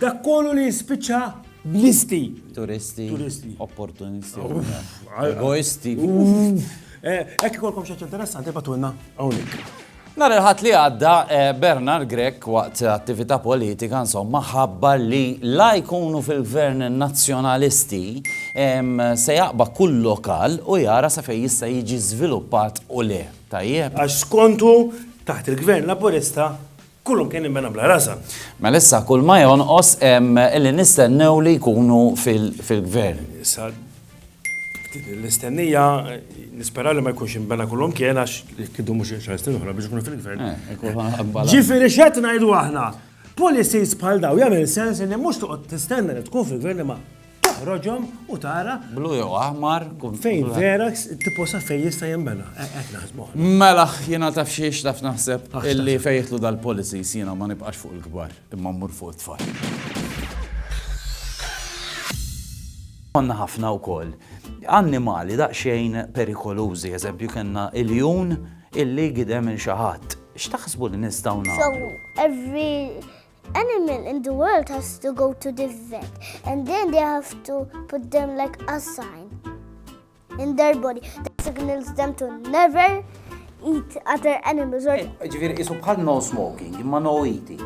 Dak kollu li jispiċċa b'listi. Turisti. Turisti. Opportunisti. Egoisti. Hekk ikolkom xi interessanti batulna hawnhekk. Nar il-ħat li għadda, eh, Bernard Grek waqt attività politika insomma ħabbar li la jkunu fil-gvern nazzjonalisti se jaqba kull lokal u jara sa fej jista' jiġi żviluppat u le. Tajjeb. Għax skontu taħt il-gvern laburista Kullhom kien immena bla rażan. Mela issa kull ma jonqos hemm li nistennew li jkunu fil-gvern. Issa l-istennija nispera li ma jkunx imbena kullhom kien għax kidu mhux xar snin oħra biex ikunu fil-gvern. Eh, Ġifieri x'qed ngħidu aħna? Policies bħal daw jagħmel sens li mhux toqgħod tistenna li tkun fil-gvern ma Toħroġhom u tara. Blu jew aħmar. Fejn vera tipo sa fejn jista' jinbena. Eh, qed naħsbu. Mela jiena taf xiex taf naħseb illi fejtlu dal-policies jiena ma nibqax fuq il-kbar imma mmur fuq it-tfal. Konna ħafna wkoll annimali daqsxejn perikolużi, eżempju kellna il-jun illi gidem il xaħat. X'taħsbu li nistgħu nagħmlu? So every animal in the world has to go to the vet and then they have to put them like a sign in their body that signals them to never eat other animals or eh, ġifir isu bħal no smoking imma no eating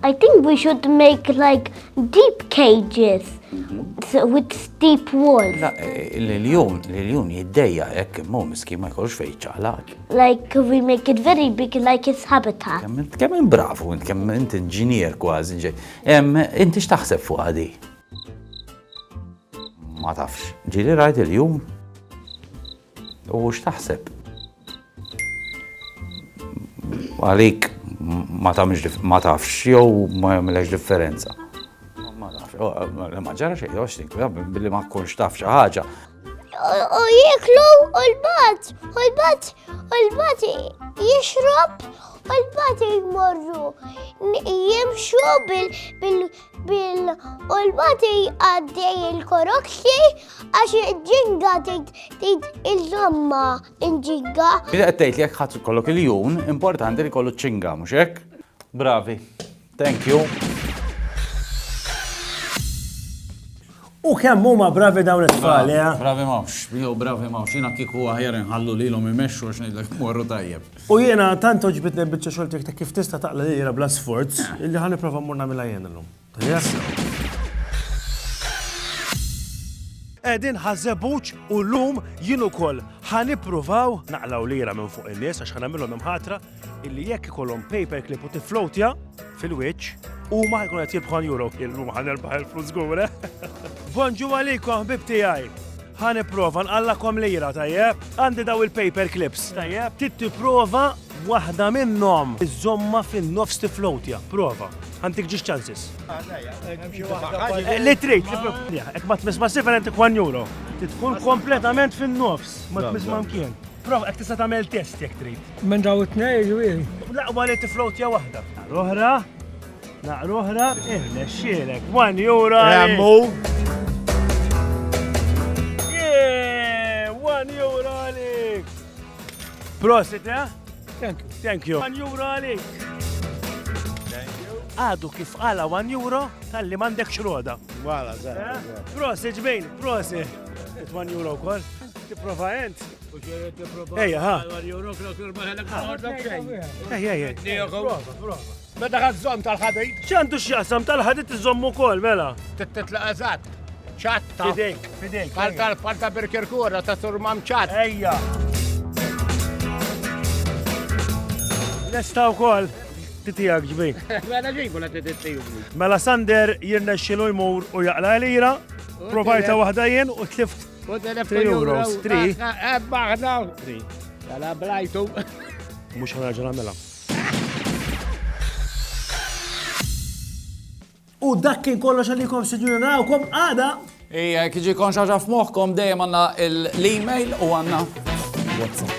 I think we should make like deep cages mhm. with steep walls. La, eh, l-iljon, l-iljon jiddeja jekk imma miskin ma jkollx fejn ċaħlaq. Like we make it very big like its habitat. Kemm in bravu, kemm int inġinier kważi ġej. Inti x'taħseb fuq għadi? Ma tafx. Ġili rajt il-jum. U x'taħseb? Għalik ma tafx ma tafx jew ma jagħmilx differenza. Ma tafx, ma ġara xejn, billi ma tkunx taf xi ħaġa. U jiklu u l-bat, u l-bat, u l-bat jixrob, u l-bat jmorru. Jimxu bil, bil, bil, u l-bat jgħaddej il-korokxi għax ġinga tgħid il-żomma inġinga. Bida għattejt li jek ħat kollok il-jun, importanti li kollu ċinga, muxek? Bravi. Thank you. U kemm huma bravi dawn it-tfal, eh? Bravi mawx, jew bravi mawx, jiena kieku aħjar inħallu lilhom imexxu għax ngħidlek morru tajjeb. U jiena tant oġbitni l-biċċa xogħol tiegħek ta' kif tista' taqla lilha bla sforz, illi ħa nipprova mmur nagħmilha jien illum. Qegħdin ħażebuċ u llum jien ukoll ħa nippruvaw naqlaw lira minn fuq in-nies għax ħa nagħmilhom imħatra illi jekk ikollhom paperclip u tiflowtja fil-wiċċ, huma ħajkun qed jibħu euro kill huma ħan erbaħ il-flus żgur. Eh? Bonġu għalikom ħbib tiegħi. Ħan ipprova nqallakom lira tajjeb. Għandi daw il-paper clips tajjeb. Tit tipprova waħda minnhom iżomma fin-nofs tiflowtja. Prova. Għandik ġiex ċansis. Eh, li trid, jekk ma tmiss ma' 7 għandik 1 euro. Tkun kompletament fin-nofs, ma tmiss ma' mkien. Prova, ek tista' tagħmel test jekk trid. Minn daw it-tnej ġwil. Laqwa li tiflot jew waħda. L-oħra, naqra oħra, irnexxielek. 1 euro. Remmu. 1 euro għalik. Prosit, eh? Thank you. Thank you. 1 euro għalik. Għadu kif għala 1 euro tal-li mandek xroda. Wala, zaħra. Eh? Prosit, ġbejn, prosit. 1 euro kol. Tipprova ent? Ejja, ha. Ejja, ejja. Meta ħazzom tal-ħadid? ċandu x'jaqsam tal-ħadid iżomm ukoll, mela. Titla eżatt. ċatta. Fidejk, fidejk. Palta l-palta birkirkura ta' surmam ċat. Ejja. Lesta wkoll titijak ġbi. Mela ġibu la titiju. Mela Sander jirnexxilu jmur u jaqla l-ira, provajta waħda jien u tlift 3 euros, 3. Ebba, ħna, 3. Għala blajtu. Mux ħanarġa namela. U dak kien kollox għalikom sinjuri narawkom għada. Ija, kħiġi kon xaġa f'moħkom dejjem għanna l-email u għanna. WhatsApp.